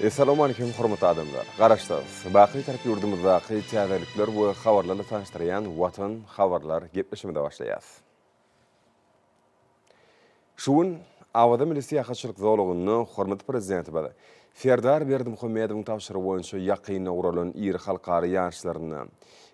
Essalawmalikim hormatly adamlar! Garaşsyz, baky tarap ýurdumyzdaky täzelikler we habarlarla tanyşdyrýan Watan habarlar gepleşigimize başlaýas. Şu gün Awaza milli syýahatçylyk zolagynda hormatly Prezidentimiz Serdar Berdimuhamedowyň tabşyrygy boýunça ýakynda guralan iri halkara ýaryşlarynda,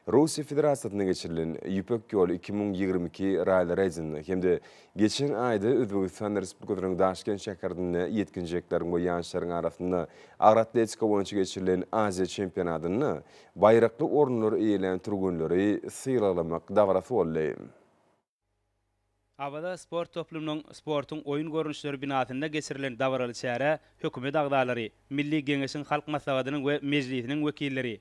Russiýa Federasiýasynda geçirilen Ýüpek ýoly iki müň ýigrimi iki ralli-reýdinde hem-de Geçen aýda Özbegistan Respublikasynyň Daşkent şäherinde ýetginjekleriň we ýaşlaryň arasynda agyr atletika boýunça geçirilen Aziýa çempionatynda baýrakly orunlary eýelän türgenleri sylaglamak dabarasy boldy. Awaza sport toplumynyň sportuň oýun görnüşleri binasynda geçirilen dabaraly çärä hökümet agzalary, Milli Geňeşiň Halk Maslahatynyň we Mejlisiniň wekilleri,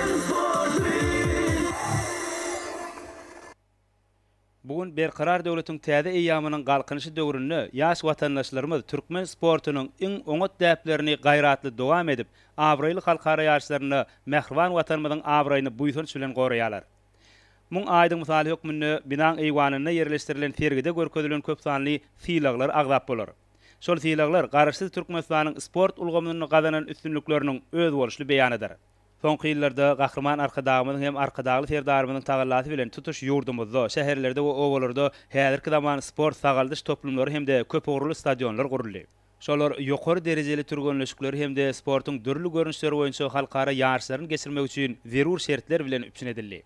Bu gün Berkarar döwletiň täze eýýamynyň Galkynyşy döwründe ýaş watandaşlarymyz türkmen sportunyň iň oňat däplerini gaýratly dowam edip, abraýly halkara ýaryşlarynda mähriban Watanymyzyň abraýyny buýsanç bilen goraýarlar. Muň aýdyň mysaly hökmünde binaň eýwanynda ýerleşdirilen sergide görkezilen köpsanly sylaglar agzap bolar. Şol sylaglar Garaşsyz Türkmenistanyň sport ulgamynda gazanan üstünlikleriniň özboluşly beýanydyr. Soňky ýyllarda Gahryman Arkadagymyzyň hem Arkadagly Serdarymyzyň tagallasy bilen tutuş ýurdumyzda, şäherlerde we obalarda häzirki zaman sport-sagaldyş toplumlary hem-de köpugurly stadionlar guruldy. Şolar ýokary derejeli türgenleşikleri hem-de sportuň dürli görnüşleri boýunça halkara ýaryşlaryny geçirmek üçin zerur şertler bilen üpjün edildi.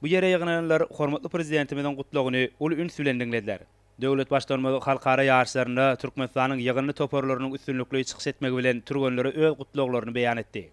Bu ýere ýygnananlar hormatly Prezidentimiziň Gutlagyny uly üns bilen diňlediler. Döwlet Baştutanymyz halkara ýaryşlarynda Türkmenistanyň ýygyndy toparlarynyň üstünlikli çykyş etmegi bilen türgenlere öz gutlaglaryny beýan etdi.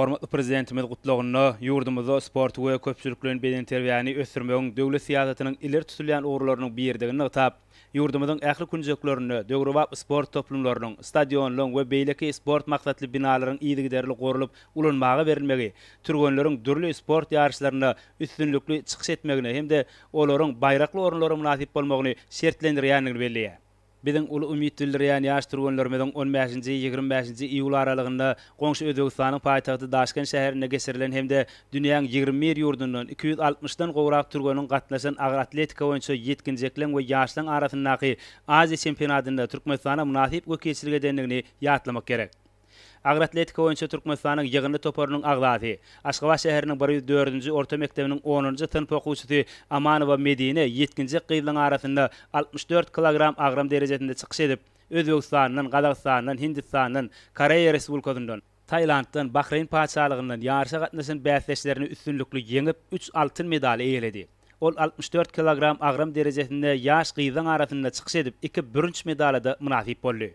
Hormatly Prezidentimiz gutlagynda ýurdumyzda sporty we köpçülikleýin bedenterbiýäni ösdürmegiň döwlet syýasatynyň ileri tutulýan ugurlarynyň biridigini nygtap, ýurdumyzyň ähli künjeklerinde döwrebap sport toplumlarynyň, stadionlaryň we beýleki sport maksatly binalaryň yzygiderli gurlup ulanmaga berilmegi türgenleriň dürli sport ýaryşlarynda üstünlikli çykyş etmegine hem-de olaryň baýrakly orunlara mynasyp bolmagyny şertlendirýändigini belleýär. Biziň uly umyt bildirýän ýaş türgenlerimiziň on bäşinji, ýigrimi bäşinji iýul aralygynda goňşy Özbegistanyň paýtagty Daşkent şäherinde geçirilen hem-de dünýäň ýigrimi bir ýurdundan iki ýüz altmyşdan gowrak türgeniň gatnaşan agyr atletika boýunça ýetginjekleň we ýaşlaň arasyndaky Aziýa çempionatynda Türkmenistana mynasyp wekilçilik edendigini ýatlamak gerek. Agyr atletika boýunça Türkmenistanyň ýygyndy toparynyň agzasy, Aşgabat şäheriniň bir ýüz dördünji orta mekdebiniň onunjy synp okuwçysy Amanowa Medine ýetginjek gyzlaryň arasynda altmyş dört kilogram agram derejesinde çykyş edip, Özbegistandan, Gazagystandan, Hindistandan, Koreýa Respublikasyndan, Tailanddan, Bahreýn Patyşalygyndan ýaryşa gatnaşan bäsdeşlerini üstünlikli ýeňip, üç altyn medaly eýeledi. Ol altmyş dört kilogram agram derejesinde ýaş gyzlaryň arasynda çykyş edip, iki bürünç medala-da mynasyp boldy.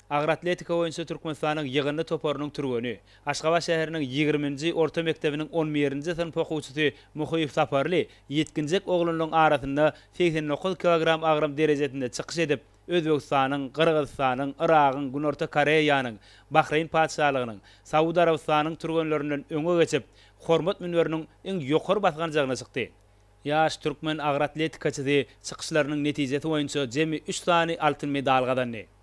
Agyr atletika boýunça Türkmenistanyň ýygyndy toparynyň türgeni, Aşgabat şäheriniň ýigriminji orta mekdebiniň on birinji synp okuwçysy Muhyýew Saparly ýetginjek oglanlaryň arasynda segsen dokuz kilogram agram derejesinde çykyş edip, Özbegistanyň, Gyrgyzystanyň, Yragyň, Günorta Koreýanyň, Bahreýn Patyşalygynyň, Saud Arabystanyň türgenlerinden öňe geçip, hormat münberiniň iň ýokary basganjagyna çykdy. Ýaş türkmen agyr atletikaçysy çykyşlarynyň netijesi boýunça jemi üç sany altyn medal gazandy.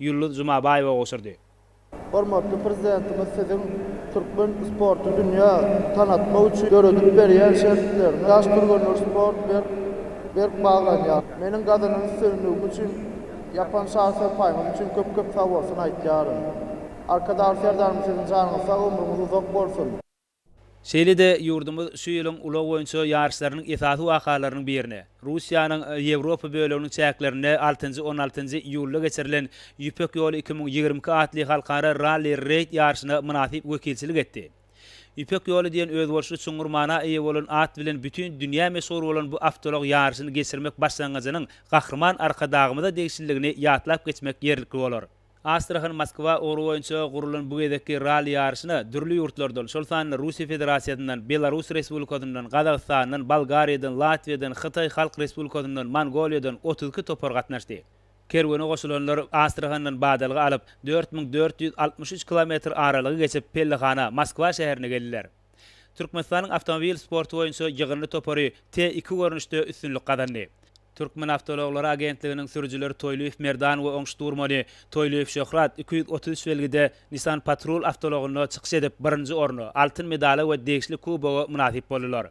Ýulduz Jumabaýewa gowşurdy. Hormatly Prezidentimiz Siziň türkmen sporty dünýä tanatmak üçin döredip berýän şertleriňiz ýaş türgenleri sport berk, berk baglanýar. Meniň gazanan üstünligim üçin ýapan şar sypaýyňyz üçin köp-köp sag bolsun aýtýaryn. Arkadagly Serdarymyz siziň janyňyz sag ömrüňiz uzak bolsun. Şeýle-de ýurdumyz şu ýylyň ulag boýunça ýaryşlarynyň esasy wakalarynyň birine, Russiýanyň Ýewropa böleginiň çäklerinde altynjy-on altynjy iýulda geçirilen Ýüpek ýoly iki müň ýigrimi iki atly halkara ralli-reýd ýaryşyna mynasyp wekilçilik etdi. Ýüpek ýoly diýen özboluşly çuňňur mana eýe bolan at bilen bütin dünýä meşhur bolan bu awtoulag ýaryşyny geçirmek başlangyjynyň Gahryman Arkadagymyza degişliligini ýatlap geçmek ýerlikli bolar. Astrahan-Moskwa ugry boýunça gurlan bu gezekki ralli ýaryşyna dürli ýurtlardan, şol sanda Russiýa Federasiýasyndan, Belarus Respublikasyndan, Gazagystandan, Bolgariýadan, Latwiýadan, Hytaý Halk Respublikasyndan, Mongoliýadan otuz iki topar gatnaşdy. Kerwene goşulanlar Astrahandan badalga alyp, dört müň dört ýüz altmyş üç kilometr aralygy geçip, pellehana, Moskwa şäherine geldiler. Türkmenistanyň awtomobil sporty boýunça ýygyndy topary T iki görnüşde üstünlik gazandy. Türkmenawtouloglary agentliginiň sürüjileri Toýlyýew Merdan we Oňşit Durmany, Toýlyýew Şöhrat iki ýüz otuz üç belgide Nissan Patrol awtoulagynda çykyş edip, birinji orna, altyn medala we degişli kuboga mynasyp boldular.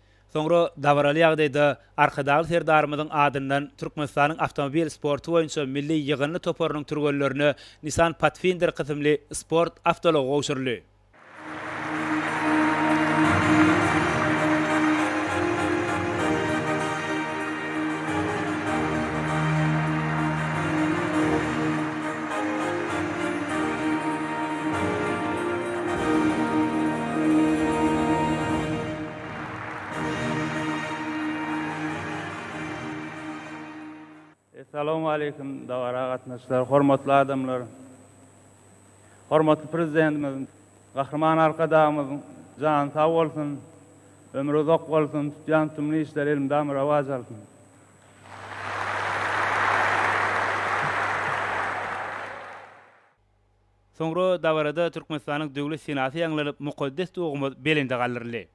Soňra dabaraly ýagdaýda Arkadagly Serdarymyzyň adyndan Türkmenistanyň awtomobil sporty boýunça milli ýygyndy toparynyň türgenlerine Nissan Pathfinder kysymly sport awtoulagy gowşuryldy. Essalawmaleýkim, dabara gatnaşyjylar, hormatly adamlar! Hormatly Prezidentimiz Gahryman Arkadagymyzyň jany sag bolsun, ömri uzak bolsun, tutýan tümli işleri elmydama rowaç alsyn! Soňra dabarada Türkmenistanyň Döwlet senasy ýaňlanyp, mukaddes Dogumyz belende galdyryldy.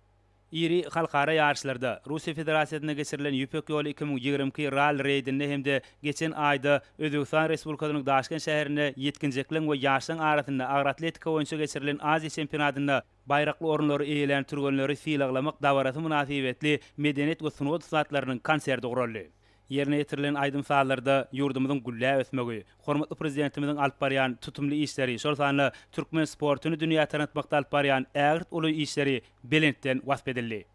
Iri halkara ýaryşlarda, Russiýa Federasiýasynda geçirilen Ýüpek ýoly iki müň ýigrimi iki ralli reýdinde hem-de geçen aýda Özbegistan Respublikasynyň Daşkent şäherinde ýetginjekleň we ýaşlaň arasynda agroatletika boýunça geçirilen Aziýa çempionatynda Baýrakly orunlary eýelän türgenleri sylaglamak dabarasy mynasybetli medeniýet we sungat ussatlarynyň konserti guraldy. Ýerine ýetirilen aýdym-sazlarda ýurdumyzyň gülläp ösmegi, hormatly Prezidentimiziň alyp barýan tutumly işleri, şol sanda türkmen sportuny dünýä tanatmakda alyp barýan ägirt uly işleri belentden wasp edildi.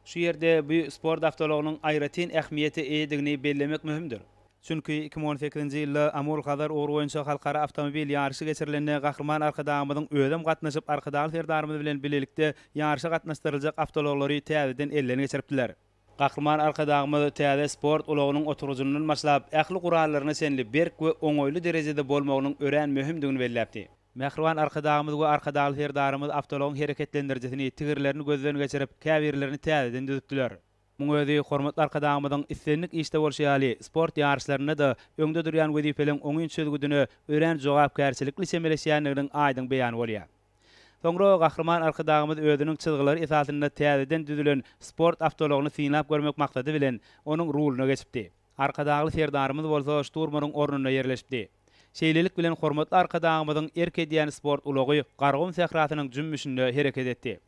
Şu ýerde bu sport awtoulagynyň aýratyn ähmiýete eýedigini bellemek möhümdir. Çünki iki müň on sekizinji ýylda Amul-Hazar ugry boýunça halkara awtomobil ýaryşy geçirilende Gahryman Arkadagymyzyň özem gatnaşyp, Arkadagly Serdarymyz bilen bilelikde ýaryşa gatnaşdyryljak awtoulaglary täzeden elden geçiripdiler. Gahryman Arkadagymyz täze sport ulagynyň oturgyjyndan başlap, ähli gurallaryna çenli berk we oňaýly derejede bolmagynyň örän möhümdigini belläpdi. Mähriban Arkadagymyz we Arkadagly Serdarymyz awtoulagyň hereketlendirijisini, tigirlerini gözden geçirip, käbirlerini täzeden düzüpdiler. Muň özi hormatly Arkadagymyzyň islendik işde bolşy ýaly, sport ýaryşlarynda-da öňde durýan wezipeleň oňyn çözgüdine örän jogapkärçilikli çemeleşýändiginiň aýdyň beýany bolýar. Soňra Gahryman Arkadagymyz özüniň çyzgylary esasynda täzeden düzülen sport awtoulagyny synlap görmek maksady bilen, onuň ruluna geçipdi. Arkadagly Serdarymyz bolsa şturmanyň ornunda ýerleşipdi. Şeýlelik bilen hormatly Arkadagymyzyň erk edýän sport ulagy Garagum sährasynyň jümmüşinde hereket etdi.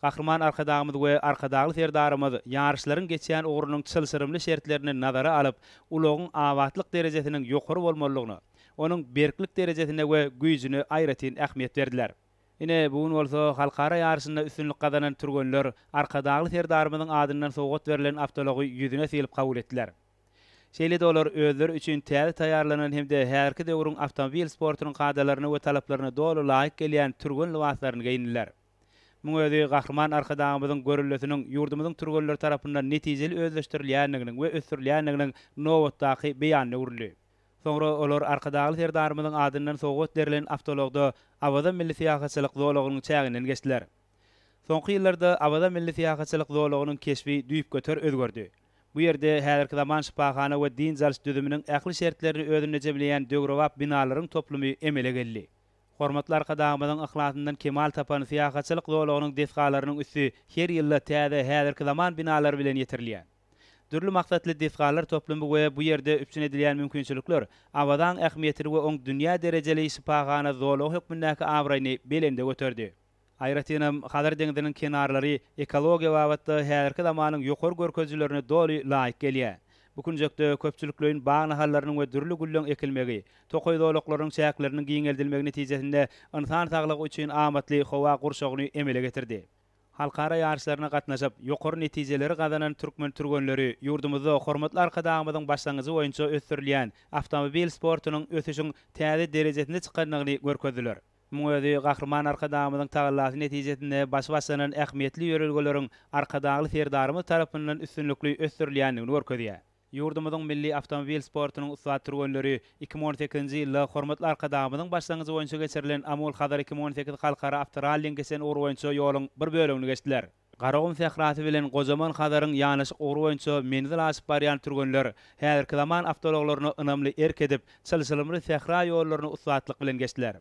Gahryman Arkadagymyz we Arkadagly Serdarymyz ýaryşlaryň geçýän ugrunyň çylşyrymly şertlerini nazara alyp, ulagyň abatlyk derejesiniň ýokary bolmalydygyna, onuň berklik derejesine we güýjüne aýratyn ähmiýet berdiler. Ine, bu gün bolsa halkara ýaryşynda üstünlik gazanan türgenler Arkadagly Serdarymyzyň adyndan sowgat berlen awtoulagy ýüzüne sylyp kabul etdiler. Şeýle-de olar özleri üçin täze taýýarlanan hem-de häzirki döwrüň awtomobil sportunyň kadalaryna we talaplaryna doly laýyk gelýän türgen lybaslaryny geýindiler. Muň özi Gahryman Arkadagymyzyň görellesiniň ýurdumyzyň türgenleri tarapyndan netijeli özleşdirilýändiginiň we ösdürilýändiginiň nobatdaky beýanyna öwrüldi. Soňra olar Arkadagly Serdarymyzyň adyndan sowgat berlen awtoulagda Awaza milli syýahatçylyk zolagynyň çäginden geçdiler. Soňky ýyllarda Awaza milli syýahatçylyk zolagynyň keşbi düýpgöter özgerdi. Bu ýerde häzirki zaman şypahana we dynç alyş düzüminiň ähli şertlerini özünde jemleýän döwrebap binalaryň toplumy emele geldi. Hormatly Arkadagymyzyň yhlasyndan kemal tapan syýahatçylyk zolagynyň desgalarynyň üsti her ýylda täze häzirki zaman binalary bilen ýetirilýär. Dürli maksatly desgalar toplumy we bu ýerde üpjün edilýän mümkinçilikler Awazaň ähmiýetini we oň dünýä derejeli şypahana zolagy hökmündäki abraýyny belende göterdi. Aýratynam, Hazar deňziniň kenarlary ekologiýa babatda häzirki zamanyň ýokary görkezijilerine doly laýyk gelýär. Bu künjekde köpçülikleýin bag nahallarynyň we dürli gülleň ekilmegi, tokaý zolaklarynyň çäkleriniň giňeldilmegi netijesinde ynsan saglygy üçin amatly howa gurşawyny emele getirdi. Halkara ýaryşlaryna gatnaşyp, ýokary netijeleri gazanan türkmen türgenleri ýurdumyzda hormatly Arkadagymyzyň başlangyjy boýunça ösdürilýän awtomobil sportunyň ösüşiň täze derejesine çykandygyny görkezdiler. Muň özi Gahryman Arkadagymyzyň tagallasy netijesinde başy başlanan ähmiýetli ýörelgeleriň Arkadagly Serdarymyz tarapyndan üstünlikli ösdürilýändigini görkezýär. Ýurdumyzyň milli awtomobil sportunyň ussat türgenleri iki müň on sekizinji ýylda hormatly Arkadagymyzyň başlangyjy boýunça geçirilen Amul-Hazar iki müň on sekiz halkara awtoralliň geçen ugry boýunça ýoluň bir bölegini geçdiler. Garagum sährasy bilen gojaman Hazaryň ýanaşyk ugry boýunça menzil aşyp barýan türgenler häzirki zaman awtoulaglaryna ynamly erk edip, çylşyrymly sähra ýollaryny ussatlyk bilen geçdiler.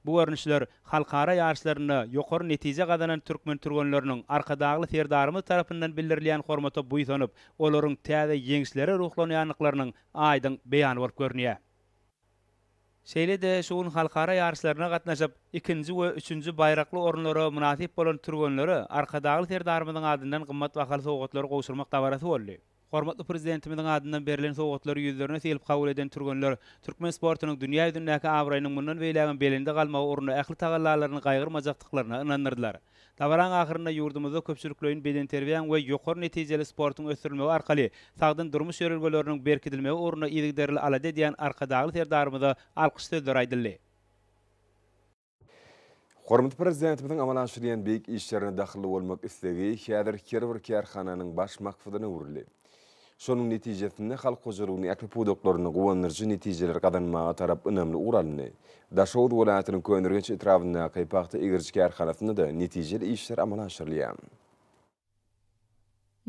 Bu görnüşler halkara ýaryşlarynda ýokary netije gazanan türkmen türgenleriniň Arkadagly Serdarymyz tarapyndan bildirilýän hormata buýsanyp, olaryň täze ýeňişlere ruhlanýandyklarynyň aýdyň beýany bolup görünýär. Şeýle-de şu gün halkara ýaryşlaryna gatnaşyp, ikinji we üçünji baýrakly orunlara mynasyp bolan türgenlere Arkadagly Serdarymyzyň adyndan gymmat bahaly sowgatlary gowşurmak dabarasy boldy. Hormatly Prezidentimiziň adyndan berlen sowgatlary ýüzlerine sylyp kabul eden türgenler türkmen sportunyň dünýä ýüzündäki abraýynyň mundan beýlägem belende galmagy ugrunda ähli tagallalaryny gaýgyrmajakdyklaryna ynandyrdylar. Dabaranyň ahyrynda ýurdumyzda köpçülikleýin bedenterbiýäň we ýokary netijeli sportuň ösdürilmegi arkaly sagdyn durmuş ýörelgeleriniň berkidilmegi ugrunda yzygiderli alada edýän Arkadagly Serdarymyza alkyş sözleri aýdyldy. Hormatly Prezidentimiziň amala aşyrýan beýik işlerine dahylly bolmak islegi häzir her bir kärhananyň baş maksadyna öwrüldi. Şonuň netijesinde halk hojalygynyň ähli pudaklarynda guwandyryjy netijeleri gazanmaga tarap ynamly ugur alyndy. Daşoguz welaýatynyň Köneürgenç etrabyndaky pagta egiriji kärhanasynda-da netijeli işler amala aşyrylýar.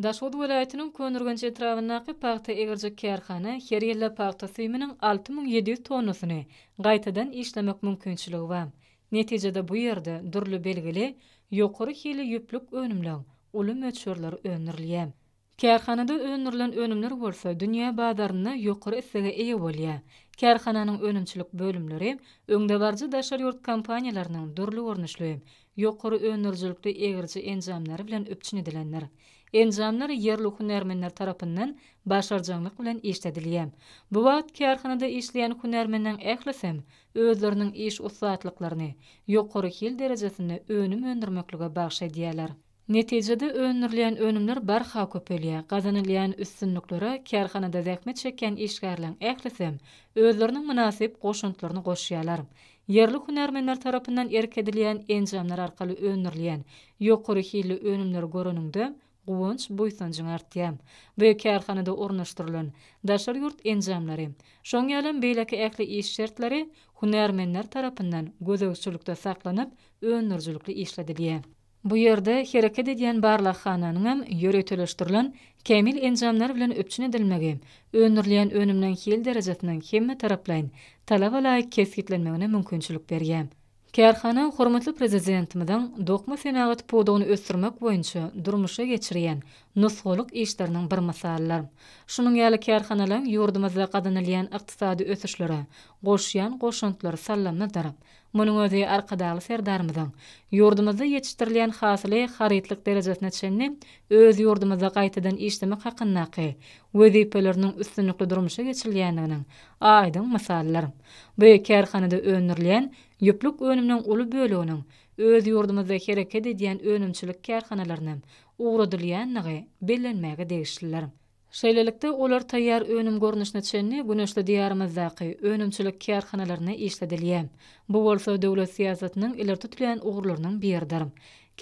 Daşoguz welaýatynyň Köneürgenç etrabyndaky pagta egirjek kärhana her ýylda pagta süýüminiň alty müň ýedi ýüz tonnasyny gaýtadan işlemek mümkinçiligi bar. Netijede bu ýerde dürli belgili ýokary hilli ýüplük önümleň uly möçberleri öndürilýär. Kärhanada öndürilen önümler bolsa dünýä bazarynda ýokary islege eýe bolýar. Kärhananyň önümçilik bölümleri öňdebaryjy daşary ýurt kompaniýalarynyň dürli görnüşli ýokary öndürijilikli egiriji enjamlary bilen üpjün edilendir. Enjamlar ýerli hünärmenler tarapyndan başarjaňlyk bilen işledilýär. Bu wagt kärhanada işleýän hünärmenleriň ählisem özleriniň iş ussatlyklaryny ýokary hil derejesinde önüm öndürmeklige bagyş edýärler. Netijede öndürilýän önümler barha köpelýär, gazanylýan üstünliklere kärhanada zähmet çekýän işgärleriň ählisem özleriniň mynasyp goşantlaryny goşýarlar. Ýerli hünärmenler tarapyndan erk edilýän enjamlar arkaly öndürilýän ýokary hilli önümleri göreniňde guwanç-buýsanjyň artýar. Bu kärhanada ornaşdyrylan daşary ýurt enjamlary, şoň ýalem beýleki ähli iş şertleri hünärmenler tarapyndan gözegçilikde saklanyp, öndürijilikli işledilýär. Bu ýerde hereket edýän barlaghananyň hem ýöriteleşdirilen kämil enjamlar bilen üpjün edilmegi öndürilýän önüminiň hil derejesiniň hemmetaraplaýyn, talaba laýyk kesgitlenmegine mümkinçilik berýär. Kärhana hormatly Prezidentimiziň dokma senagat pudagyny ösdürmek boýunça durmuşa geçirýän nusgalyk işleriniň bir mysalydyr. Şunuň ýaly kärhanalaryň ýurdumyzda gazanylýan ykdysady ösüşlere goşýan goşantlary sallamadyr. Munuň özi Arkadagly Serdarymyzyň ýurdumyzda ýetişdirilýän hasyly harytlyk derejesine çenli öz ýurdumyzda gaýtadan işlemek hakyndaky wezipeleriniň üstünlikli durmuşa geçirilýändiginiň aýdyň mysalydyr. Bu kärhanada öndürilýän ýüplük önüminiň uly böleginiň öz ýurdumyzda hereket edýän önümçilik kärhanalarynam ugradylýandygy bellenmäge degişlidir. Şeýlelikde, olar taýýar önüm görnüşine çenli güneşli Diýarymyzdaky önümçilik kärhanalarynda işledilýär. Bu bolsa döwlet syýasatynyň ileri tutulýan ugurlarynyň biridir.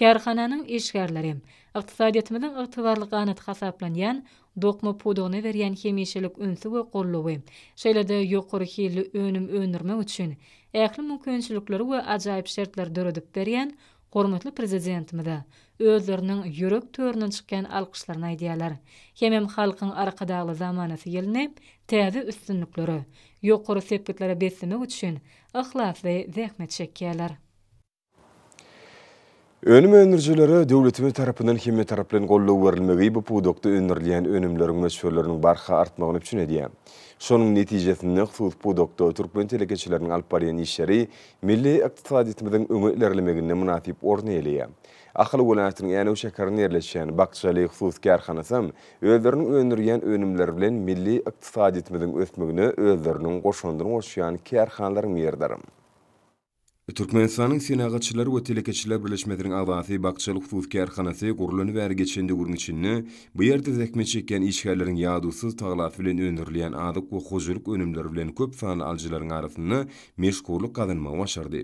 Kärhananyň işgärleri ykdysadyýetimiziň ygtybarly ganaty hasaplanýan dokma pudagyna berýän hemişelik ünsi we goldawy, şeýle-de ýokary hilli önüm öndürmek üçin ähli mümkinçilikleri we ajaýyp şertleri döredip berýän hormatly Prezidentimize özleriniň ýürek töründen çykýan alkyşlaryny aýdýarlar hemem Halkyň Arkadagly zamanasy ýylyny täze üstünliklere, ýokary sepgitlere beslemek üçin yhlasly zähmet çekýärler. Önüm öndürijilere döwletimiz tarapyndan hemmetaraplaýyn goldaw berilmegi bu pudakda öndürilýän önümleriň möçberleriniň barha artmagyny üpjün edýär. Şonuň netijesinde, hususy pudakda türkmen telekeçileriniň alyp barýan işleri Milli ykdysadyýetimiziň öňe ilerlemeginde mynasyp orun eýeleýär. Ahal welaýatynyň Änew şäherinde ýerleşýän Bakjaly hususy kärhanasam özleriniň öndürýän önümleri bilen milli ykdysadyýetimiziň ösmegine özleriniň goşandyny goşýan kärhanalaryň biridir. Türkmenistanyň Senagatçylar we telekeçiler birleşmesiniň agzasy Bakjaly hususy kärhanasy gurlany bäri geçen döwrüň içinde bu ýerde zähmet çekýän işgärleriň ýadowsyz tagalasy bilen öndürilýän azyk we hojalyk önümleri bilen köp sanly alyjylaryň arasynda meşhurlyk gazanmagy başardy.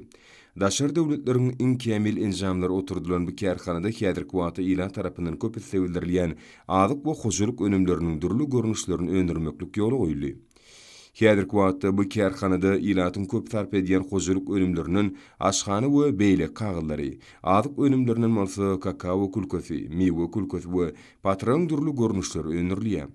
Daşary döwletleriň iň kämil enjamlary oturdylan bu kärhanada häzirki wagtda ilat tarapyndan köp islebildirilýän azyk we hojalyk önümleriniň dürli görnüşlerini öndürmeklik ýola goýuldy. Häzirki wagtda bu kärhanada ilatyň köp sarp edýän hojalyk önümlerinden aşhana we beýleki kagyzlary, azyk önümlerinden bolsa kakawo külkesi, miwe külkesi we patyryň dürli görnüşleri öndürilýär.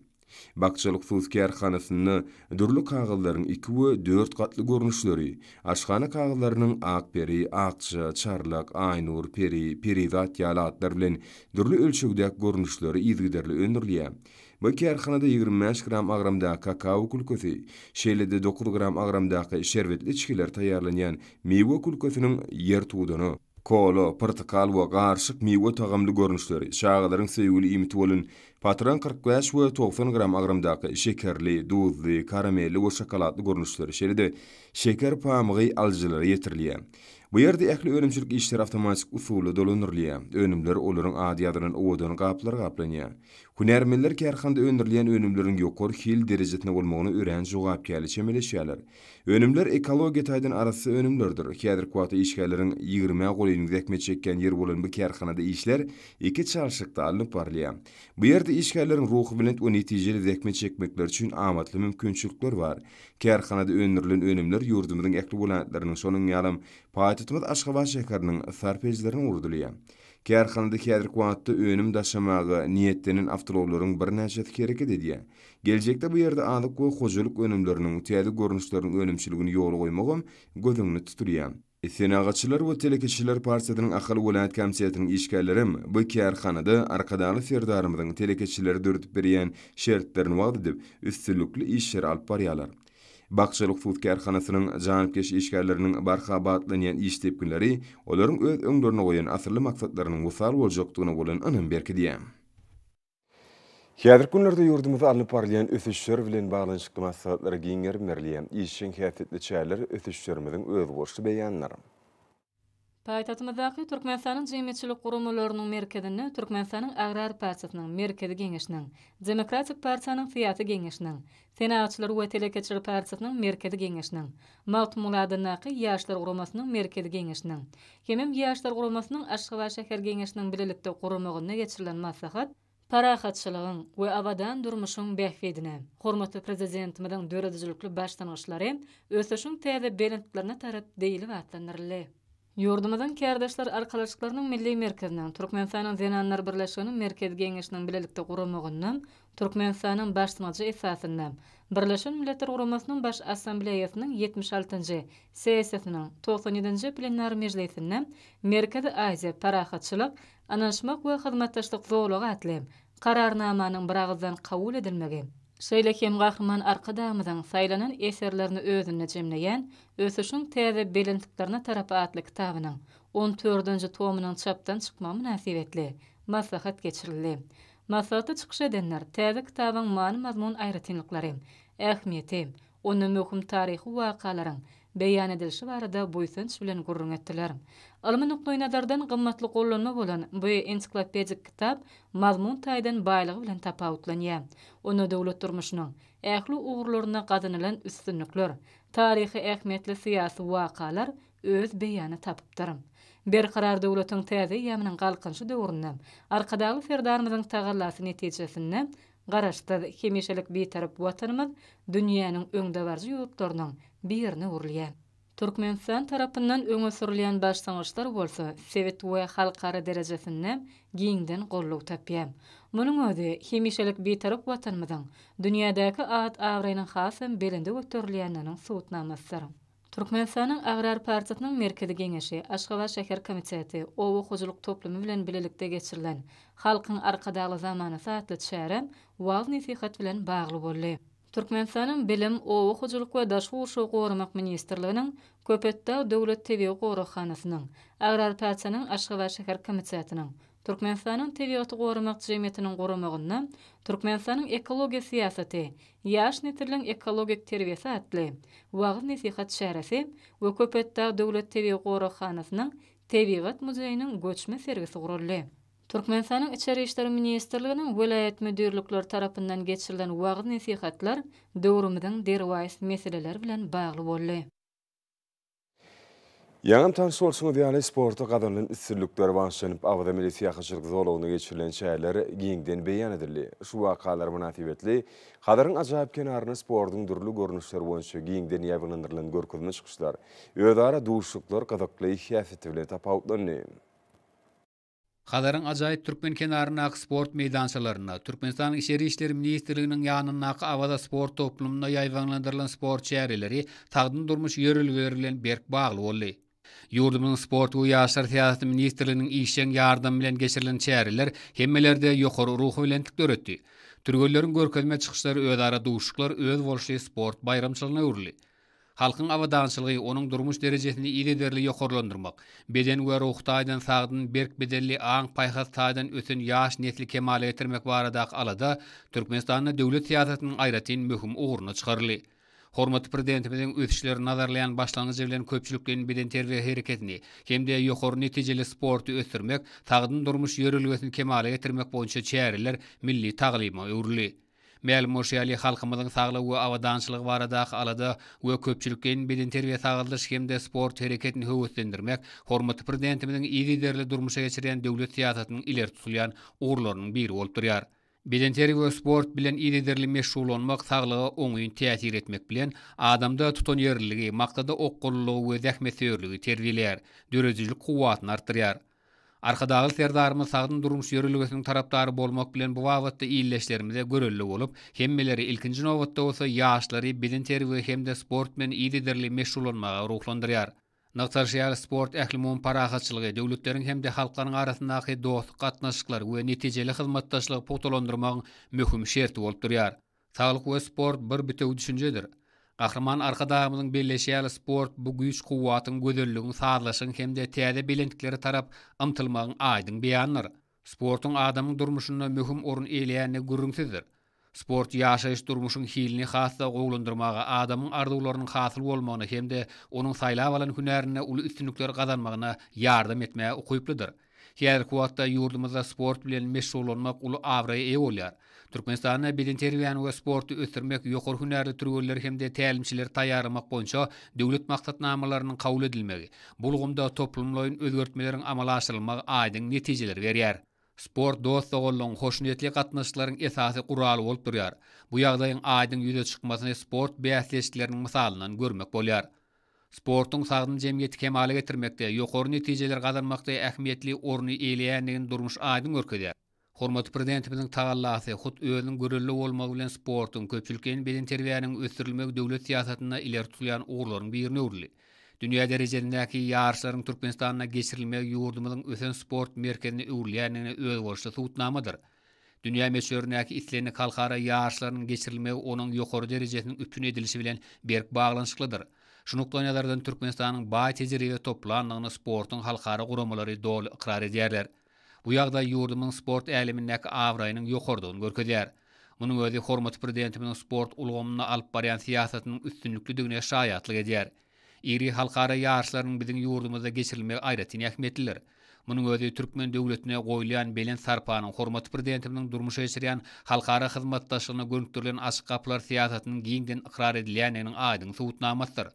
Bakjalyk suw kärhanasynda dürli kagyzlaryň iki we dört gatly görnüşleri, aşhana kagyzlarynyň Akperi, Akja, Çarlak, Aýnur, Peri, Perizat ýaly atlar bilen dürli ölçegdäki görnüşleri yzygiderli öndürilýär. Bu kärhanada ýigrimi bäş gram agramdaky kakao külkesi, şeýle-de dokuz gram agramdaky şerbetli içgiler taýýarlanýan miwe külkesiniň ýertudany, Kola, pyrtykal we garyşyk miwe tagamly görnüşleri, çagalaryň söýgüli iýmiti bolan patron kyrk bäş we togsan gram agramdaky şekerli, duzly, karamelli we şokoladly görnüşleri, şeýle-de şeker pamygy alyjylara ýetirilýär. Bu ýerde ähli önümçilik işleri awtomatik usulda dolandyrylýar, önümler olaryň ady ýazylan owadan gaplara gaplanýar. Hünärmenler kärhanada öndürilýän önümleriň ýokary hil derejesinde bolmagyna örän jogapkärli çemeleşýärler. Önümler ekologiýa taýdan arassa önümlerdir. Häzirki wagtda işgärleriň ýigrimä golaýyny zähmet çekýän ýeri bolan bu kärhanada işler iki çalşykda alnyp barylýar. Bu ýerde işgärleriň ruhubelent we netijeli zähmet çekmekleri üçin amatly mümkinçilikler bar. Kärhanada öndürilen önümler ýurdumyzyň ähli welaýatlarynyň, şonuň ýalam, paýtagtymyz Aşgabat şäheriniň sarp edijilerine ugradylýar. Kärhanada häzirki wagtda önüm daşamaga niýetlenen awtoulaglaryň birnäçesi hereket edýär. Geljekde bu ýerde azyk we hojalyk önümleriniň täze görnüşleriniň önümçiligini ýola goýmagam göz öňünde tutulýar. Senagatçylar we telekeçiler partiýasynyň Ahal welaýat komitetiniň işgärlerem bu kärhanada Arkadagly Serdarymyzyň telekeçilere döredip berýän şertlerini wagyz edip, üstünlikli işleri alyp barýarlar. Bakjaly hususy kärhanasynyň janypkeş işgärleriniň barha batlanýan iş depginleri olaryň öz öňlerine goýan asylly maksatlarynyň wysal boljakdygyna bolan ynamy berkidýär. Häzirki günlerde ýurdumyzda alnyp barylýan ösüşler bilen baglanyşykly maslahatlar giň gerim berilýär, işjeň häsiýetli çäreler ösüşlerimiziň özboluşly beýanydyr. Paýtagtymyzdaky Türkmenistanyň jemgyýetçilik guramalarynyň merkezinde Türkmenistanyň Agrar partiýasynyň Merkezi Geňeşiniň, Demokratik partiýanyň Syýasy Geňeşiniň, Senagatçylar we telekeçiler partiýasynyň Merkezi Geňeşiniň, Magtymguly adyndaky Ýaşlar guramasynyň Merkezi Geňeşiniň hemem Ýaşlar guramasynyň Aşgabat şäher Geňeşiniň bilelikde guramagynda geçirilen maslahat Parahatçylygyň we abadan durmuşyň bähbidine, hormatly Prezidentimiziň döredijilikli başlangyçlary, ösüşiň täze belentlerine tarap diýlip atlandyryldy. Ýurdumyzyň Kärdeşler arkalaşyklarynyň Milli merkeziniň, Türkmenistanyň Zenanlar birleşiginiň Merkezi Geňeşiniň bilelikde guramagynda Türkmenistanyň başlangyjy esasynda Birleşen Milletler Guramasynyň Baş Assambleýasynyň ýetmiş altynjy sessiýasynyň togsan ýedinji plenar mejlisinde Merkezi Aziýa parahatçylyk, ynanyşmak we hyzmatdaşlyk zolagy atly Kararnamanyň biragyzdan kabul edilmegi Şeýle hem Gahryman Arkadagymyzyň saýlanan eserlerini özünde jemleýän Ösüşiň täze belentliklerine tarap atly kitabynyň on tördünji tomunyň çapdan çykmagy mynasybetli maslahat geçirildi. Maslahatda çykyş edenler täze kitabyň many-mazmun aýratynlyklary, ähmiýeti, Onda möhüm taryhy wakalaryň beýan edilişi barada buýsanç bilen gürrüň etdiler. Ylmy nukdaýnazardan gymmatly gollanma bolan bu ensiklopedik kitap mazmun taýdan baýlygy bilen tapawutlanýar. Onda döwlet durmuşynyň ähli ugurlarynda gazanylan üstünlikler, taryhy ähmiýetli syýasy wakalar öz beýany tapypdyr. Berkarar döwletiň täze eýýamynyň Galkynyşy döwründe Arkadagly Serdarymyzyň tagallasy netijesinde Garaşsyz, hemişelik Bitarap Watanymyz dünýäniň öňdebaryjy ýurtlarynyň birine öwrülýär. Türkmenistan tarapyndan öňe sürülýän başlangyçlar bolsa sebit we halkara derejesinde giňden goldaw tapýar. Munuň özi hemişelik Bitarap Watanymyzyň dünýädäki at-abraýynyň hasam belende göterilýändiginiň subutnamasydyr. Türkmenistanyň Agrar partiýasynyň Merkezi Geňeşi, Aşgabat şäher komiteti, Oba hojalyk toplumy bilen bilelikde geçirilen Halkyň Arkadagly zamanasy atly çäre wagyz-nesihat bilen bagly boldy. Türkmenistanyň Bilim, Oba hojalyk we daşky gurşawy goramak ministrliginiň, Köpetdag döwlet tebigy goraghanasynyň, Agrar partiýanyň Aşgabat şäher komitetiniň, Türkmenistanyň Tebigaty goramak jemgyýetiniň guramagynda Türkmenistanyň ekologiýa syýasaty, Ýaş nesliň ekologik terbiýesi atly wagyz-nesihat çäresi we Köpetdag döwlet tebigy goraghanasynyň Tebigat muzeýiniň göçme sergisi guraldy. Türkmenistanyň Içeri işler ministrliginiň welaýat müdirlikleri tarapyndan geçirilen wagyz-nesihatlar döwrümiziň derwaýys meseleleri bilen bagly boldy. Ýaňam tanyş bolşuňyz ýaly, sportda gazanylan üstünlikler bagyşlanyp, Awaza milli syýahatçylyk zolagynda geçirilen çäreler giňden beýan edildi. Şu wakalar mynasybetli Hazaryň ajaýyp kenarynda sportuň dürli görnüşleri boýunça giňden ýaýbaňlandyrylan görkezme çykyşlar, özara duşuşyklar gyzykly häsiýeti bilen tapawutlandy. Hazaryň ajaýyp türkmen kenaryndaky sport meýdançalarynda, Türkmenistanyň Içeri işler ministrliginiň ýanyndaky Awaza sport toplumynda ýaýbaňlandyrylan sport çäreleri sagdyn durmuş ýörelgeleri bilen berk bagly boldy. Ýurdumyzyň Sport we ýaşlar syýasaty ministrliginiň işjeň ýardamy bilen geçirilen çäreler hemmelerde ýokary ruhubelentlik döretdi. Türgenleriň görkezme çykyşlary özara duşuşyklar özboluşly sport baýramçylygyna öwrüldi. Halkyň abadançylygy, onuň durmuş derejesini yzygiderli ýokarlandyrmak, beden we ruhy taýdan sagdyn, berk bedenli, aň-paýhas taýdan ösen ýaş nesli kemala getirmek baradaky alada Türkmenistanda döwlet syýasatynyň aýratyn möhüm ugruna çykaryldy. Hormatly Prezidentimiziň ösüşleri nazarlaýan başlangyjy bilen köpçülikleýin bedenterbiýe hereketini hem-de ýokary netijeli sporty ösdürmek, sagdyn durmuş ýörelgesini kemala getirmek boýunça çäreler milli taglyma öwrüldi. Mälim bolşy ýaly, halkymyzyň saglygy we abadançylygy baradaky alada we köpçülikleýin bedenterbiýe-sagaldyş hem-de sport hereketini höweslendirmek hormatly Prezidentimiziň yzygiderli durmuşa geçirýän döwlet syýasatynyň ileri tutulýan ugurlarynyň biri bolup durýar. Bedenterbiýe we sport bilen yzygiderli meşgullanmak saglyga oňyn täsir etmek bilen, adamda tutanýerliligi, maksada okgunlylygy we zähmetsöýerligi terbiýeleýär, döredijilik kuwwatyny artdyrýar. Arkadagly Serdarymyz sagdyn durmuş ýörelgesiniň tarapdary bolmak bilen bu babatda ildeşlerimize görelde bolup, hemmeleri, ilkinji nobatda bolsa, ýaşlary bedenterbiýe hem-de sport bilen yzygiderli meşgullanmaga ruhlandyrýar. Nygtalyşy ýaly, sport ählumumy parahatçylygy, döwletleriň hem-de halklaryň arasyndaky dostluk gatnaşyklary we netijeli hyzmatdaşlygy pugtalandyrmagyň möhüm şerti bolup durýar. Saglyk we sport bir bitewi düşünjedir. Gahryman Arkadagymyzyň belleýşi ýaly sport bu güýç-kuwwatyň, gözelligiň, sazlaşygyň hem-de täze belentliklere tarap ymtylmagyň aýdyň beýanydyr. Sportuň adamyň durmuşynda möhüm orun eýleýändigi gürrüňsizdir. Sport ýaşaýyş-durmuşyň hilini has-da gowulandyrmaga, adamyň arzuwlarynyň hasyl bolmagyna hem-de onuň saýlap alan hünärinde uly üstünlikler gazanmagyna ýardam etmäge ukyplydyr. Häzirki wagtda ýurdumyzda sport bilen meşgullanmak uly abraýa eýe bolýar. Türkmenistanda bedenterbiýäni we sporty ösdürmek, ýokary hünärli türgenleri hem-de tälimçileri taýýarlamak boýunça döwlet maksatnamalarynyň kabul edilmegi, bu ulgamda toplumlaýyn özgertmeleriň amala aşyrylmagy aýdyň netijeleri berýär. Sport dost-doganlygyň, hoşniýetli gatnaşyklaryň esasy guraly bolup durýar. Bu ýagdaýyň aýdyň ýüze çykmasyny sport bäsleşikleriniň mysalyndan görmek bolýar. sportuň sagdyn jemgyýeti kemala getirmekde, ýokary netijeleri gazanmakda ähmiýetli orny eýeleýändigini durmuş aýdyň görkezýär. Hormatly Prezidentimiziň tagallasy, hut özüniň görelde bolmagy bilen sportuň, köpçülikleýin bedenterbiýäniň ösdürilmegi döwlet syýasatynda ileri tutulýan ugurlaryň birine öwrüldi. Dünýä derejesindäki ýaryşlaryň Türkmenistanda geçirilmegi ýurdumyzyň ösen sport merkezine öwrülýändigine özboluşly subutnamadyr. Dünýä möçberindäki islendik halkara ýaryşlarynyň geçirilmegi onuň ýokary derejesiniň üpjün edilişi bilen berk baglanyşyklydyr. Şu nukdaýnazardan Türkmenistanyň baý tejribe toplandygyny sportuň halkara guramalary doly ykrar edýärler. Bu ýagdaý ýurdumyzyň sport älemindäki abraýynyň ýokarydygyny görkezýär. Munuň özi hormatly Prezidentimiziň sport ulgamynda alyp barýan syýasatynyň üstünliklidigine şaýatlyk edýär. Iri halkara ýaryşlarynyň biziň ýurdumyzda geçirilmegi aýratyn ähmiýetlidir. Munuň özi türkmen döwletine goýulýan belent sarpanyň, hormatly Prezidentimiziň durmuşa geçirýän halkara hyzmatdaşlygyna gönükdirilen açyk gapylar syýasatynyň giňden ykrar edilýändiginiň aýdyň subutnamasydyr.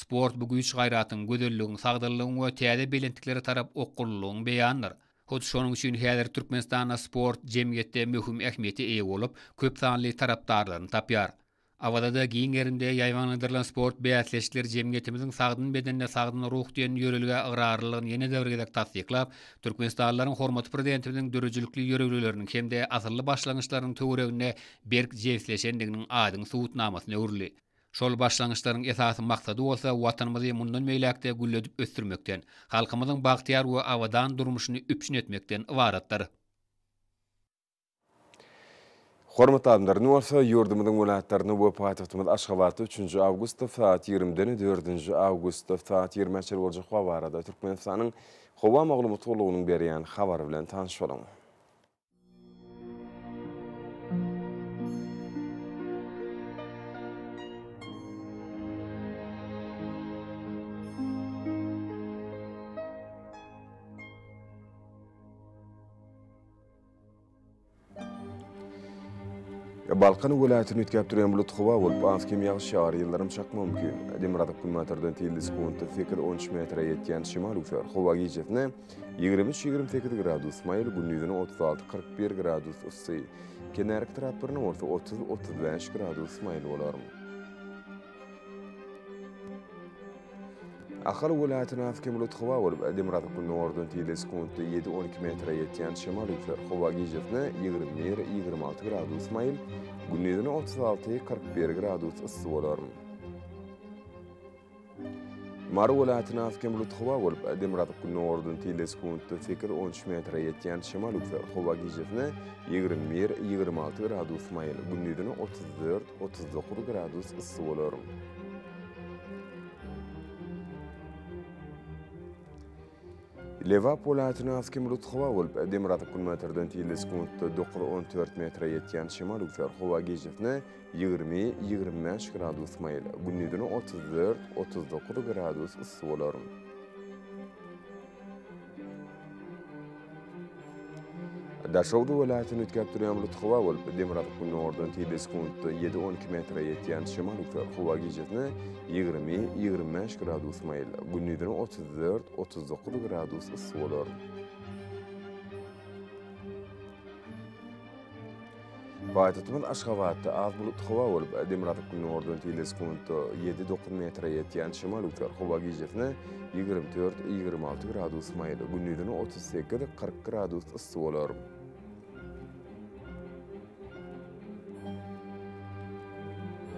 Sport bu güýç-gaýratyň, gözelligiň, sagdynlygyň we täze belentliklere tarap okgunlylygyň beýanydyr. Hut şonuň üçin häzir Türkmenistanda sport jemgyýetde möhüm ähmiýete eýe bolup, köp sanly tarapdarlaryny tapýar. Awazada giň gerinde ýaýbaňlandyrylan sport bäsleşikleri jemgyýetimiziň Sagdyn bedende sagdyn ruh diýen ýörelgä ygrarlylygyny ýene-de bir gezek tassyklap, türkmenistanlylaryň hormatly Prezidentimiziň döredijilikli ýörelgeleriniň hem-de asylly başlangyçlarynyň töwereginde berk jebisleşendiginiň aýdyň subutnamasyna öwrüldi. Şol başlangyçlaryň esasy maksady bolsa Watanymyzy mundan beýläk-de gülledip ösdürmekden, halkymyzyň bagtyýar we abadan durmuşyny üpjün etmekden ybaratdyr. Hormatly adamlar, indi bolsa ýurdumyzyň welaýatlaryna we paýtagtymyz Aşgabatda üçünji awgustda saat ýigrimiden dördünji awgustda saat ýigrimä çenli boljak wagt barada Türkmenistanyň Howa maglumat gullugynyň berýän habary bilen tanyş boluň. Balkan welaýatyny üýtgäp durýan bulut howa bolup, az-kem ýagyş ýagar, ýyldyrym çakma mümkin. Demirgazyk günbatardan telli sekuntda sekiz-on üç metre ýetýän şemal üwser. Howa gijesine ýigrimi üç-ýigrimi sekiz gradus maýyl, gündizine otuz alty-kyrk bir gradus yssy, kenaryk etraplaryna bolsa otuz-otuz bäş gradus maýyl bolar. Ahal welaýatyna has kem bulut howa bolup, demirgazyk gündogardan tizligi sekuntda ýedi, on iki metre ýetýän şemal üýser. Howa gijesine ýigrimi bir, ýigrimi alty gradus maýyl, gündizine otuz alty, kyrk bir gradus yssy bolar. Mary welaýatyna has kem bulut howa bolup, demirgazyk gündogardan tizligi sekuntda sekiz, on üç metre ýetýän şemal üýser. Howa gijesine ýigrimi bir, ýigrimi alty gradus maýyl, gündizine otuz dört, Otuz dokuz gradus yssy bolar. Lebap welaýatyna az kim bulut howa bolup, demirgazyk günbatardan tizli sekuntda 9-14 metre ýetýän şemal üser. Howa gijesine 20-25 gradus maýyl, gündizine 34-39 gradus yssy bolar. Daşoguz welaýatyny üýtgäp durýan bulut howa bolup, demirgazyk-gündogardan tizligi sekuntda ýedi, on iki metre ýetýän şemal ugsa, howa gijesine ýigrimi, ýigrimi bäş gradus maýyl, gündizine otuz dört, otuz dokuz gradus yssy bolar. Paýtagtymyz Aşgabatda az bulutly howa bolup, demirgazyk günordan tile sekuntda ýedi, dokuz metre ýetýän şemal üzer. Howa gijesine ýigrimi dört, ýigrimi alty gradus maýyl, gündizine otuz sekiz, kyrk gradus yssy bolar.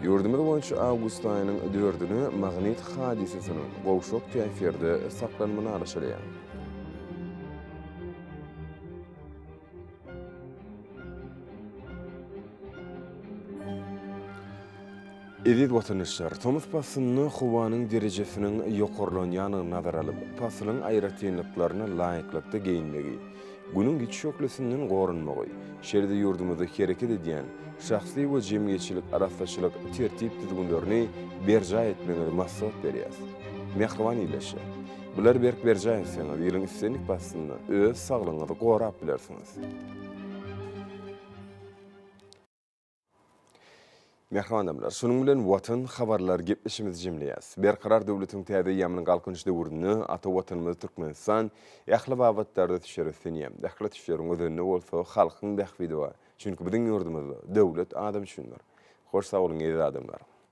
Ýurdumyz boýunça awgust aýynyň dördüni magnit hadysasynyň gowşak täsirde saklanmagy alaşylýar. Eziz watandaşlar, tomus paslynda howanyň derejesiniň ýokarlanýandygyny nazara alyp, paslyň aýratynlyklaryna laýyklykda geýinmegi, Günüň ýiti şöhlesinden goranmagy, şeýle-de ýurdumyzda hereket edýän şahsy we jemgyýetçilik arassaçylyk tertip-düzgünlerini berjaý etmegiňizi maslahat berýäris. Mähriban ildeşler! Bular berk berjaý etseňiz, ýylyň islendik paslynda öz saglygyňyzy gorap bilersiňiz. Mähriban adamlar, şunuň bilen Watan habarlar gepleşigimizi jemleýäs. Berkarar döwletiň täze eýýamynyň Galkynyş döwründe ata Watanymyz Türkmenistan ähli babatlarda düşer ösen ýer. Ähli düşleriň özende bolsa halkyň bähbidi bar. Çünki biziň ýurdumyzda döwlet adam üçindir. Hoş sag boluň eziz adamlar.